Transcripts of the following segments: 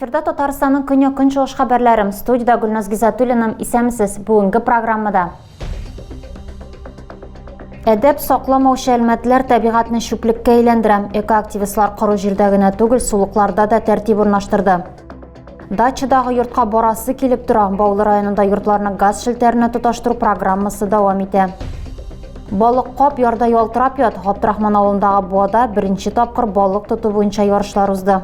Эфирда Татарстанның көньяк көнчыгыш хәбәрләрем. Студиядә Гөлназ Гизатуллинаның исәмсез бүгенге программада. Әдәп сакламаучы әлмәтләр табигатьне чүплеккә әйләндерә. Экоактивистлар коры җирдә генә түгел, сулыкларда да тәртип урнаштырды. Дачадагы йортка барасы килеп тора. Баулы районында йортларны газ шелтәренә тоташтыру программасы дәвам итә. Балык кап ярда ялтырап ят. Габдрахман авылындагы буада беренче тапкыр балык тоту буенча ярышлар узды.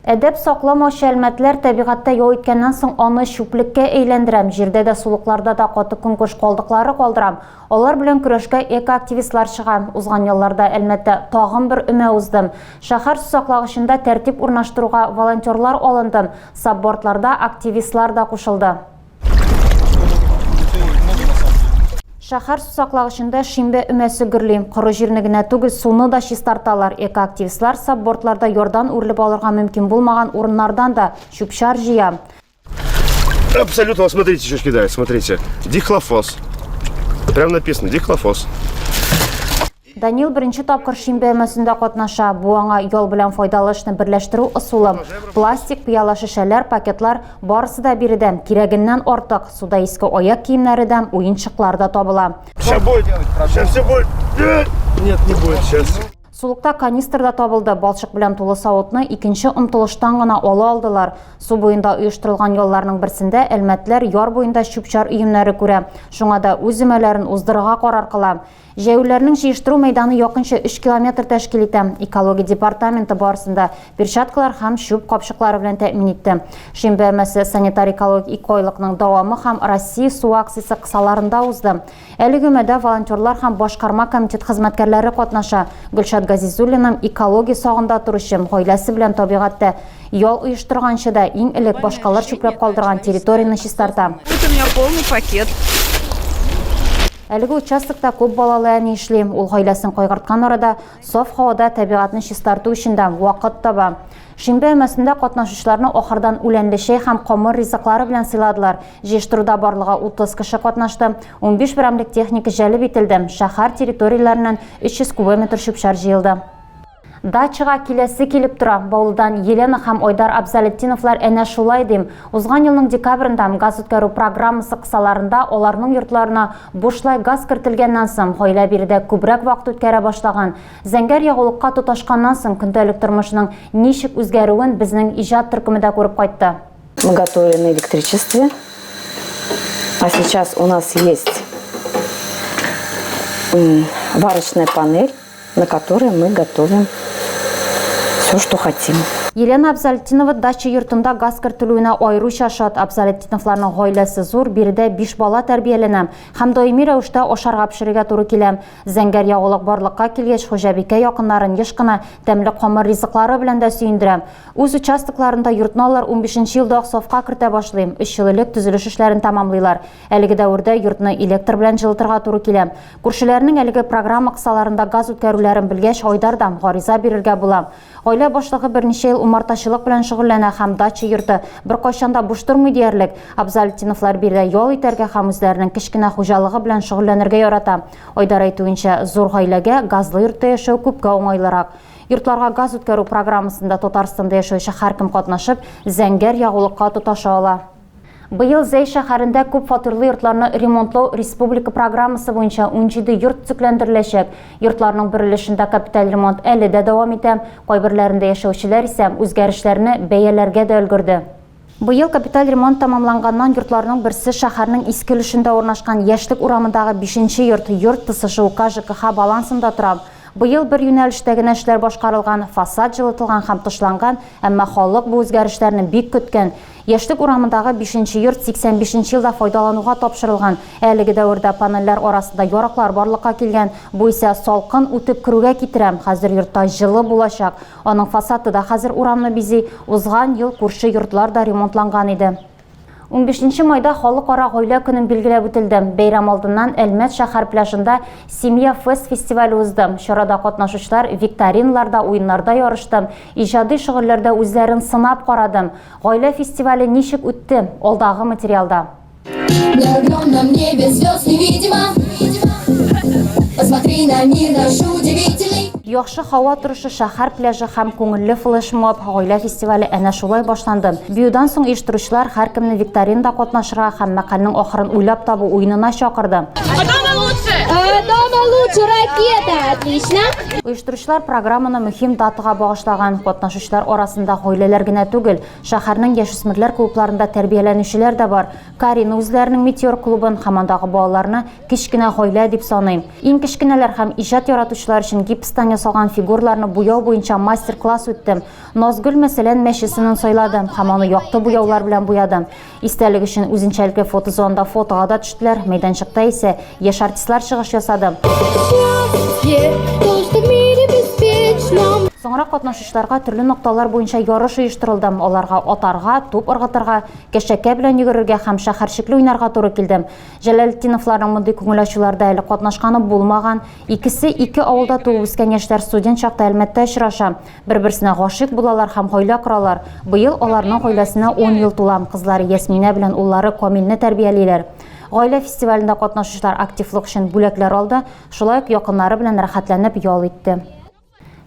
Әдәп сакламаучы әлмәтләр табигатьтә ял иткәннән соң аны чүплеккә әйләндерәм, җирдә дә сулыкларда да каты конкурс калдыклары калдырам. Алар белән көрәшкә экоактивистлар чыга. Узган елларда Әлмәттә тагын бер өмә узды. Шәһәр сусаклагычында тәртип урнаштыруга волонтерлар алынды, саббордларда активистлар да кушылды. Шәһәр сусаклагычында шимбә өмәсе гөрли. Коры җирне генә түгел, суны да чистарталар. Экоактивистлар саббордларда ярдан үрелеп алырга мөмкин булмаган урыннардан да чүп-чар җыя. Абсолютно, вот смотрите, что кидает, смотрите. Дихлофос. Прям написано, дихлофос. Данил беренче тапкыр шин бәймәсендә катнаша. Бу аңа ял белән файдалы эшне берләштерү ысулы. Пластик, пыяла шешәләр, пакетлар барысы да биредән, кирәгеннән артык. Суда иске аяк киемнәре дә, уенчыклар да табыла. Все будет, все, все будет. Нет, не будет сейчас. Сулыкта канистр да табылды, балчык белән тулы савытны икенче омтылыштан гына ала алдылар. Су буенда оештырылган ялларның берсендә әлмәтләр яр буенда чүп-чар өемнәре күрә, шуңа да үз өмәләрен уздырырга карар кыла. Җәяүләрнең җыештыру мәйданы якынча өч километр тәшкил итә. Экология департаменты барысын да перчаткалар һәм чүп капчыклары белән тәэмин итте. Шимбә өмәсе санитар-экологик икойлыкның дәвамы һәм Россия суы акциясе кысаларында узды. Әлеге мәдә волонтерлар һәм башкарма комитет хезмәткәрләре катнаша. Гөлшат Газизуллинаның экология сагында торучым, гаиләсе белән табигатьтә ял оештырганчы да, иң элек башкалар чүпләп калдырган территорияне чистарта. Вот у меня полный пакет. Әлеге участокта күп балалы әни эшли. Ул гаиләсен кайгырткан арада, саф һавада табигатьне чистарту өчен дә вакыт таба. Шимбә өмәсендә катнашучыларны ахырдан үләнле чәй һәм камыр ризыклары белән сыйладылар. Җыештыруда барлыгы 30 кеше катнашты, 15 берәмлек техника җәлеп ителде, шәһәр территорияләреннән 300 кубометр чүп-чар җыелды. Дачага киләсе килеп тора. Баулыдан Елена һәм Айдар Абзалетдиновлар әнә шулай дим. Узган елның декабрендә газ үткәрү программасы кысаларында аларның йортларына бушлай газ кертелгәннән соң, гаилә биредә күбрәк вакыт үткәрә башлаган. Зәңгәр ягулыкка тоташканнан соң көндәлек тормышның ничек үзгәрүен безнең иҗат төркеме дә күреп кайтты. Мы готовили на электричестве, а сейчас у нас есть варочная панель, на которой мы готовим все, что хотим. Елена Абзалетинова дача йортында газ кертелүенә аеруча шат. Абзалетиновларның гаиләсе зур, биредә биш бала тәрбияләнә һәм даими рәвештә ашарга пешерергә туры килә. Зәңгәр ягулык барлыкка килгәч, хуҗабикә якыннарын еш кына тәмле камыр ризыклары белән дә сөендерә. Үз участокларында йортны алар унбишенче елда ук сафка кертә башлый. Өч ел элек төзелеш эшләрен тәмамлыйлар. Әлеге дәвердә йортны электр белән җылытырга туры килә. Күршеләренең әлеге программа кысаларында газ үткәрүләрен белгәч, Айдардан гариза бирергә була. Гаилә башлыгы берничә ел умартачылык белән шөгыльләнә һәм дача йорты беркайчан да буш тормый диярлек. Абзалетдиновлар биредә ял итәргә һәм үзләренең кечкенә хуҗалыгы белән шөгыльләнергә ярата. Айдар әйтүенчә, зур гаиләгә газлы йортта яшәү күпкә уңайлырак. Йортларга газ үткәрү программасында Татарстанда яшәүче һәркем катнашып, зәңгәр ягулыкка тоташа ала. Быел Зәй шәһәрендә күп фатирлы йортларны ремонтлау республика программасы буенча унҗиде йорт төзекләндереләчәк. Йортларның бер өлешендә капиталь ремонт әле дә дәвам итә, кайберләрендә яшәүчеләр исә үзгәрешләрне бәяләргә дә өлгерде. Быел капиталь ремонт тәмамланганнан йортларның берсе шәһәрнең иске өлешендә урнашкан Яшьлек урамындагы бишенче йорт, йорт тысы ШУК ЖКХ балансында тора. Быел бер юнәлештә генә эшләр башкарылган, фасад җылытылган һәм тышланган, әмма халык бу үзгәрешләрне бик көткән. Яшьлек урамындагы бишенче йорт 85 нче елда файдалануга тапшырылган. Әлеге дәвердә панельләр арасында яраклар барлыкка килгән. Бу исә салкын үтеп керүгә китерә. Хәзер йортта җылы булачак. Аның фасады да хәзер урамны бизи. Узган ел күрше йортлар да ремонтланган иде. Унбиш нче майда Халыкара гаилә көнен билгеләп үтелде. Бәйрәм алдыннан Әлмәт шәһәр пляжында Семья Фест фестивале узды. Чарада катнашучылар викториналарда, уеннарда ярышты. Иҗади шөгыльләрдә үзләрен сынап карадым. Гаилә фестивале ничек үтте? Алдагы материалда. Яхшы һава торышы, шәһәр пляжы һәм күңелле флешмоб гаилә фестивале әнә шулай башланды. Биюдан соң оештыручылар һәркемне викторинада катнашырга һәм мәкальнең ахырын уйлап табу уенына чакырды. Дома лучше! Э, дома лучше, ракета! Отлично! Оештыручылар программаны мөһим датага багышлаган. Катнашучылар арасында гаиләләр генә түгел, шәһәрнең яшүсмерләр клубларында тәрбияләнүчеләр дә бар. Карина үзләренең Метеор клубын һәм андагы балаларны кечкенә гаилә дип саный. Иң кечкенәләр һәм иҗат яратучылар өчен гипстан ясалган фигурларны буяу буенча мастер-класс үтте. Назгөл, мәсәлән, мәче сынын сайлады һәм аны якты буяулар белән буяды. Истәлек өчен үзенчәлекле фотозонда фотога да төштеләр. Мәйданчыкта исә яшь артистлар чыгыш ясады. Соңрак катнашучыларга төрле нокталар буенча ярыш оештырылды. Аларга атарга, туп ыргытырга, кәшәкә белән йөгерергә һәм шәһәрчекле уйнарга туры килде. Җәләлетдиновларның мондый күңел ачуларда әле катнашканы булмаган. Икесе ике авылда туып үскән яшьләр студент чакта Әлмәттә очраша. Бер-берсенә гашыйк булалар һәм гаилә коралар. Быел аларның гаиләсенә 10 ел тула. Кызлары Ясминә белән уллары Камилне тәрбиялиләр. Гаилә фестивалендә катнашучылар активлык өчен бүләкләр алды, шулай ук якыннары белән рәхәтләнеп ял итте.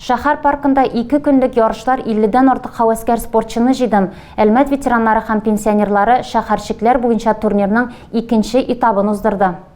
Шәһәр паркында ике көнлек ярышлар 50 дән артык һәвәскәр спортчыны җыйдым. Әлмәт ветераннары һәм пенсионерлары шәһәрчекләр буенча турнирның икенче этабын уздырды.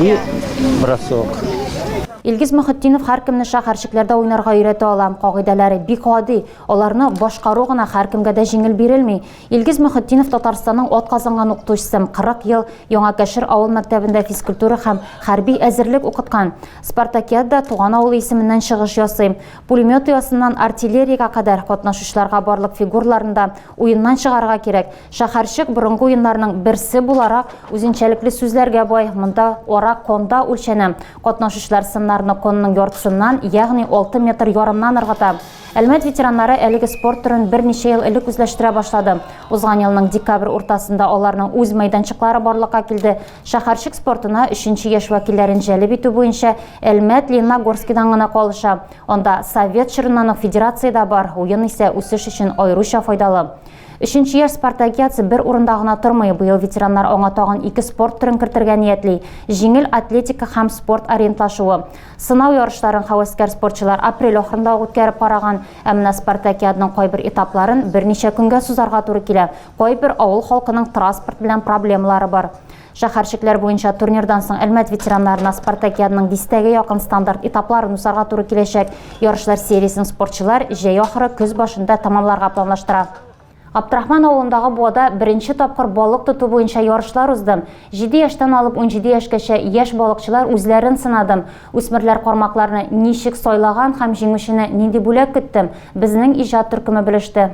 И бросок. Илгиз Мөхетдинов һәркемне шәһәрчекләрдә уйнарга өйрәтә ала. Кагыйдәләре бик гади. Аларны башкару гына һәркемгә дә җиңел бирелми. Илгиз Мөхетдинов Татарстанның атказанган укытучысы, 40 ел Яңа Кәшер авыл мәктәбендә физкультура һәм хәрби әзерлек укыткан. Спартакиада туган авылы исеменнән чыгыш ясый. Пулемет оясыннан артиллериягә кадәр катнашучыларга барлык фигураларны да уеннан чыгарырга кирәк. Шәһәрчек борынгы уеннарның берсе буларак үзенчәлекле сүзләргә бай. Монда ара конда үлчәнә. Катнашучылар сыннарны конның яртысыннан, ягъни алты метр ярымнан ыргыта. Әлмәт ветераннары әлеге спорт төрен берничә ел элек үзләштерә башлады. Узган елның декабрь уртасында аларның үз мәйданчыклары барлыкка килде. Шәһәрчек спортына өченче яшь вәкилләрен җәлеп итү буенча Әлмәт Лениногорскидан гына калыша. Анда совет чорыннан ук федерация дә бар, уен исә үсеш өчен аеруча файдалы. Өченче яшь спартакиадасы бер урында гына тормый, быел ветераннар аңа тагын ике спорт төрен кертергә ниятли, җиңел атлетика һәм спорт ориентлашуы. Сынау ярышларын һәвәскәр спортчылар апрель ахырында ук үткәреп караган, ә менә спартакиаданың кайбер этапларын берничә көнгә сузарга туры килә, кайбер авыл халкының транспорт белән проблемалары бар. Шәһәрчекләр буенча турнирдан соң Әлмәт ветераннарына спартакиаданың дистәгә якын стандарт этапларын узарга туры киләчәк. Ярышлар сериясен спортчылар җәй ахыры, көз башында тәмамларга планлаштыра. Габдрахман авылындагы буада беренче тапкыр балык тоту буенча ярышлар узды. Җиде яшьтән алып унҗиде яшькәчә яшь балыкчылар үзләрен сынады. Үсмерләр кармакларны ничек сайлаган һәм җиңүчене нинди бүләк көтте, безнең иҗат төркеме белеште.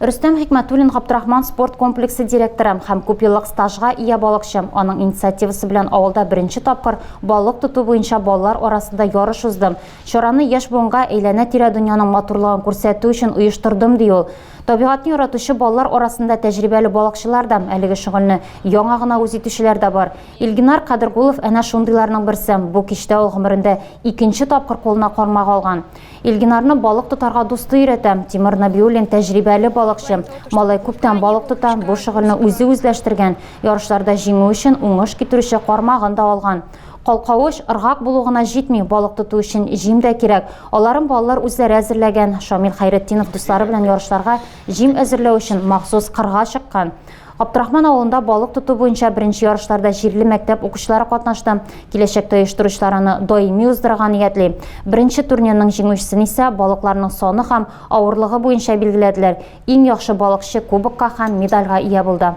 Рөстәм Хикмәтуллин Габдрахман спорт комплексы директоры һәм күпьеллык стажга ия балыкчы. Аның инициативасы белән авылда беренче тапкыр балык тоту буенча балалар арасында ярыш узды. Чараны яшь буынга әйләнә-тирә дөньяның матурлыгын күрсәтү өчен оештырдым, ди ул. Табигатьне яратучы балалар арасында тәҗрибәле балыкчылар да, әлеге шөгыльне яңа гына үз итүчеләр дә бар. Илгинар Кадергулов әнә шундыйларның берсе, бу кичтә ул гомерендә икенче тапкыр кулына кармак алган. Илгинарны балык тотарга дусты өйрәтә. Тимур Нәбиуллин, тәҗрибәле балыкчы. Малай күптән балык тота, бу шөгыльне үзе үзләштергән, ярышларда җиңү өчен уңыш китерүче кармагын да алган. Калкавыч, ыргак булу гына җитми, балык тоту өчен җим дә кирәк. Аларын балалар үзләре әзерләгән. Шамил Хәйретдинов дуслары белән ярышларга җим әзерләү өчен махсус кырга чыккан. Абдрахман авылында балык тоту буенча беренче ярышларда җирле мәктәп укучылары катнашты. Киләчәктә оештыручылар аны даими уздырырга ниятли. Беренче турнирның җиңүчесен исә балыкларның саны һәм авырлыгы буенча билгеләделәр. Иң яхшы балыкчы кубокка һәм медальгә ия булды.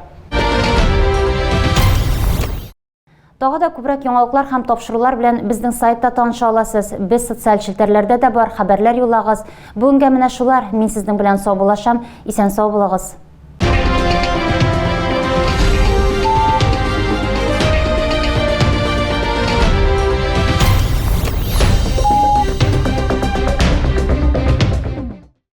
Тагы да күбрәк яңалыклар һәм тапшырулар белән безнең сайтта таныша аласыз. Без социаль челтәрләрдә дә бар, хәбәрләр юллагыз. Бүгенгә менә шулар. Мин сезнең белән саубуллашам. Исән сау булыгыз.